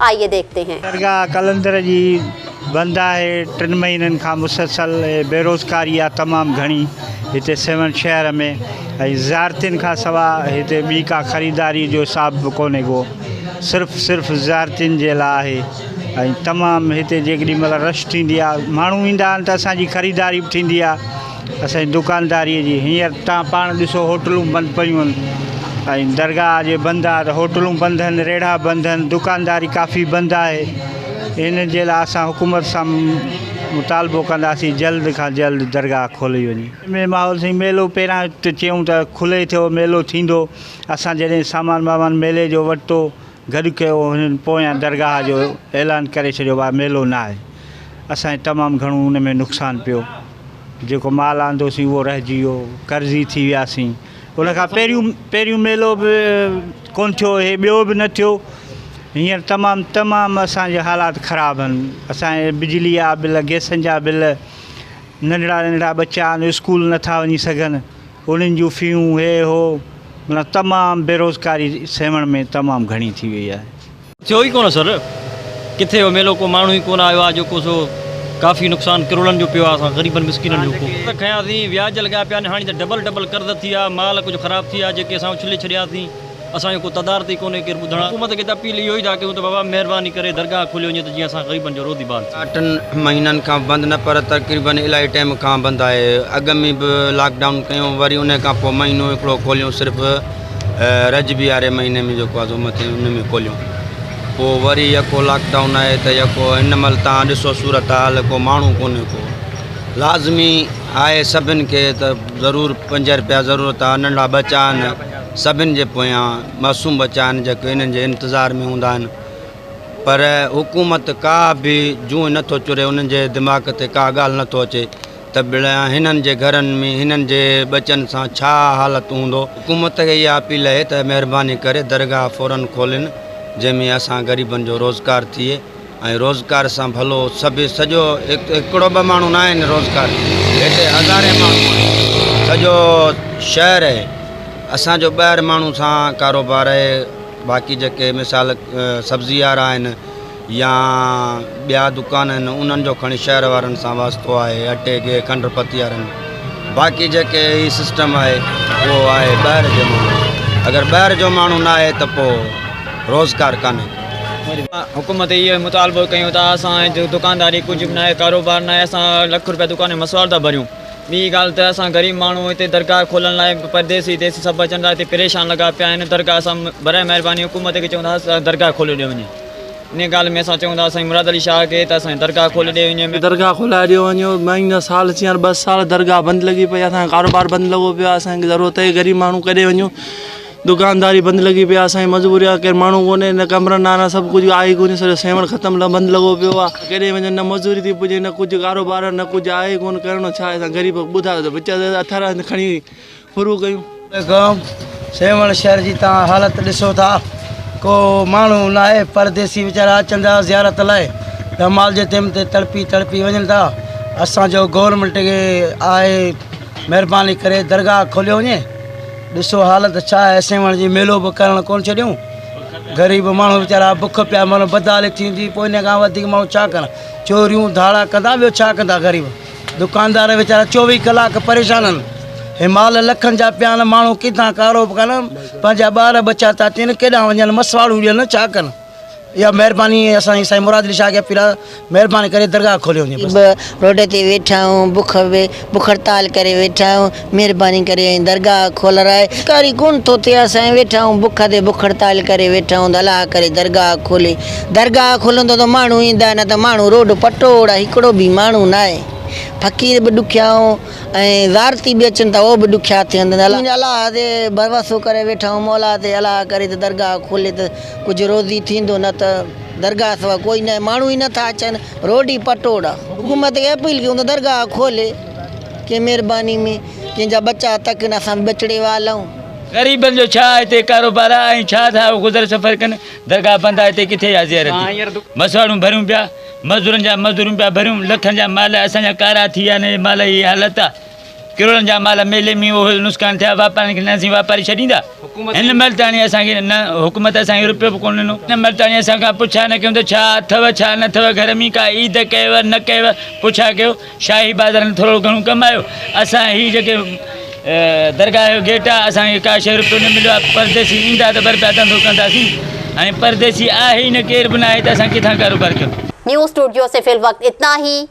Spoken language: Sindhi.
آئيي ديکتي هين. درگاهه قلندر جي بند آهي، ٽن مهينن کان مسلسل ۽ بيروزگاري آهي تمام گهڻي هتي سيوهڻ شهر ۾ ۽ زيارتين کان سوا هتي ٻي ڪا خريداري جو حساب به ڪونهي ڪو صرف صرف زيارتين جي لاء آهي ۽ تمام هتي جيڪڏهن مهل رش ٿيندي آهي ماڻهو ايندا آهن ته اسان جي خريداري به ٿيندي آهي. اسان جي دڪانداريء جي هينئر تان پاڻ ڏسو هوٽلون بند پيون هن ۽ درگاهه جي بند آهي ته هوٽلون بند هن ريڙها بند هن دڪانداري ڪافي بند آهي هن جي لاء اسان حڪومت سان مطالبو ڪنداسين جلد کان جلد درگاهه کولي وڃي. ۾ ماحول سائين ميلو پهريان ته چيون ته کلي ٿيو ميلو ٿيندو اسان جڏهن سامان وامان ميلي جو وٺتو گڏ ڪيو هنن پويان درگاهه جو اعلان ڪري ڇڏيو ڀا ميلو ناهي اسان جي تمام گهڻو ان ۾ نقصان پيو. جيڪو مال آندوسين اهو رهجي ويو، قرضي ٿي وياسين. ان کان پهريون پهريون ميلو به ڪونه ٿيو، هي ٻيو به نه ٿيو. هينئر تمام تمام اسان جي حالات خراب آهن. اسان جي بجلي جا بل، گئسن جا بل، ننڍڙا ننڍڙا ٻچا آهن اسڪول نه ٿا وڃي سگهن، انهن جون فيون، هي هو، معنيٰ تمام بيروزگاري سيوهڻ ۾ تمام گهڻي ٿي وئي آهي. ٿيو ئي ڪونه سر ڪٿي اهو ميلو ڪو ماڻهو ئي ڪونه آيو آ جو ڪو سو ڪافي نقصان ڪروڙن جو پيو آ اسان غريبن مسڪينن جو ڪو قرض کنياسين وياج لڳا پيا آهن هاڻي ته ڊبل ڊبل قرض ٿي آ مال ڪجهه خراب ٿي آ جيڪي اسان اڇلي ڇڏياسين اسان جو ڪو تدارت ئي ڪونه ڪير ٻڌڻ حڪومت کي ته اپيل اهو ئي ٿا ڪيون ته بابا مهرباني ڪري درگاهه کوليو وڃي ته جيئن اسان غريبن جو روزي بحال ٿئي. ٽن مهينن کان بند نه پر تقريبن الائي ٽيم کان بند آهي اڳ ۾ به لاڪ ڊائون ڪيون وري انهي کان پوء مهينو هڪڙو کوليون صرف رجب يارهين مهيني ۾ جيڪو آزو مٿي ان ۾ کوليون پوء وري يڪو لاڪ ڊائون آهي ته يڪو هن مهل تان ڏسو صورت حال ڪو ماڻهو ڪونهي ڪو لازمي آهي سڀن کي ته ضرور پنج رپيا ضرورت آهي ننڍا ٻچا آهن سڀن جي پويان معصوم ٻچا آهن جيڪو انهن جي انتظار ۾ هوندا آهن پر حڪومت ڪا به جونء نٿو چري انهن جي دماغ تي ڪا ڳالهه نٿو اچي ته ڀلا هنن جي گهرن ۾ هنن جي ٻچن سان ڇا حالت هوندو؟ حڪومت کي اها اپيل اهي ته مهرباني ڪري درگاهه فورا کولين جنهن ۾ اسان غريبن جو روزگار ٿئي ۽ روزگار سان ڀلو سڀ سڄو هڪڙو ٻه ماڻهو نه آهن روزگار هتي هزارين ماڻهو آهن سڄو شهر اهي اسان جو ٻه هر ماڻهو سان ڪاروبار اهي باقي جيڪي مثال سبزي وارا آهن يا ٻيا دڪان آهن انهن جو کڻي شهر وارن سان واسطو آهي اٽي گيهه کنڊ پتيارن باقي جيڪي هي سسٽم آهي اهو آهي ٻاهر جي ماڻهو اگر ٻاهر جو ماڻهو نه آهي ته پوء روزگار ڪانهي حڪومت اهو ئي مطالبو ڪيون ته اسان جو دڪانداري ڪجهه به ناهي ڪاروبار ناهي اسان لک روپيا دڪان ۾ مسوار ٿا ڀريون ٻي ڳالهه ته اسان غريب ماڻهو هتي درگاهه کولڻ لاء پرديسي ديسي سڀ اچن ٿا هتي پريشان لڳا پيا آهن درگاهه اسان برائي مهرباني حڪومت کي چون ٿا درگاهه کولي ڏيو وڃي. انهيء ڳالهه ۾ اسان چئون ٿا سائين مراد علي شاهه کي ته اسان جي درگاهه کولي ڏيئي وڃي. درگاهه کولائي ڏيئي وڃي. مايون جا سال ٿي ويا آهن، ٻه سال درگاهه بند لڳي پئي آهي. اسان جو ڪاروبار بند لڳو پيو آهي. اسان کي ضرورت اهي غريب ماڻهو ڪيڏي وڃون. دڪانداري بند لڳي پئي آهي. اسان جي مجبوري آهي ڪير ماڻهو ڪونهي نه ڪمرن آهن ها سڀ ڪجهه آهي ئي ڪونهي سڄو سيوهڻ ختم بند لڳو پيو آهي. ڪيڏي وڃون نه مزوري ٿي پڄي نه ڪجهه ڪاروبار نه ڪجهه آهي ئي ڪونهه ڪرڻو ڇا آهي اسان غريب ٻڌايو ته وچ اٿارا کڻي شروع ڪيون. پيغام، سيوهڻ شهر جي توهان حالت ڏسو ٿا، ڪو ماڻهو ناهي، پرديسي ويچارا اچن ٿا زيارت لاء ته مال جي تيم تي تڙپي تڙپي وڃن ٿا، اسان جو گورنمينٽ کي آهي مهرباني ڪري درگاهه کوليو وڃي، ڏسو حالت ڇا آهي، سيوهڻ جي ميلو به ڪرڻ ڪونه ڇڏيون، غريب ماڻهو ويچارا بک پيا مرن، بدحالي ٿيندي پوء ان کان وڌيڪ ماڻهو ڇا ڪرن، چوريون ڌاڙا ڪندا ٻيو ڇا ڪندا غريب. دڪاندار ويچارا چوويهه ڪلاڪ پريشانن همال لکن جا پيان ماڻهو ڪيڌان ڪارو به ڪن پنهنجا ٻار ٻچا ٿا تين ڪيڏانهن وڃن مسواڙون ڏين ڇا ڪن اها مهرباني اسان جي سائين مراد علي شاهه کي اپيل آهي مهرباني ڪري درگاهه کولي وڃي بس. به روڊ تي ويٺا آهيون بک به بک هڙتال ڪري ويٺا آهيون مھرباني ڪري ۽ درگاھ کولرائي ڪاري ڪون ٿو ٿئي اسين ويٺا آھيون بک تي بک ھڙتال ڪري ويٺا آھيون ته الاھ ڪري درگاھ کولي درگاھ کولندو ته ماڻھو ايندا نه ته ماڻھو روڊ پٽوڙا ھڪڙو به ماڻھو ناھي فقير به ڏکيا ھون ۽ زارتي به اچن ته اھو به ڏکيا ٿين ته الاھ تي ڀروسو ڪري ويٺا آھيون مولا تي الاھ ڪري ته درگاھ کولي ته ڪجھ روزي ٿيندو نه ته درگاھ سوا ڪوئي ناھي ماڻھو ئي نه ٿا اچن روڊي پٽوڙا حڪومت کي اپيل ڪيون ته درگاهه کولي ڪي مهرباني ۾ ڪنهن جا ٻچا تڪن اسان به بچڙي والائون. غريبن جو ڇا هتي ڪاروبار آهي ۽ ڇا ٿا اهو گذر سفر ڪن درگاهه بند آهي هتي ڪٿي آهي زيارتي مسواڙون ڀريون پيا مزدورن جا مزدوريون پيا ڀريون لکن جا مال اسان جا ڪارا ٿي ويا هن جي مال جي اها حالت آهي. ڪروڙن جا مال ميلي مينهن اوهل نسڪان ٿيا، واپارين کي نه اسين واپاري ڇڏيندا، هن مهل تاڻي اسان کي نه حڪومت اسان کي رپيو به ڪونه ڏنو، هن مهل تاڻي اسان کان پڇا نه ڪيون ته ڇا اٿئو ڇا نه اٿئو، گهر ۾ ڪا عيد ڪيئو نه ڪيئو، پڇا ڪيو، شاهي بازار ۾ ٿورڙو گهڻو ڪم آيو، اسان هي جيڪي درگاهه جو گيٽ آ اسان کي ڪا شيء رپيو نه مليو آ، پرديسي ايندا ته به رپيا ڌنڌو ڪنداسين، هاڻي پرديسي آهي ئي نه ڪير به ناهي ته اسان ڪٿان ڪاروبار ڪيون. نيوز اسٽوڊيو سي في الوقت اتنا هي.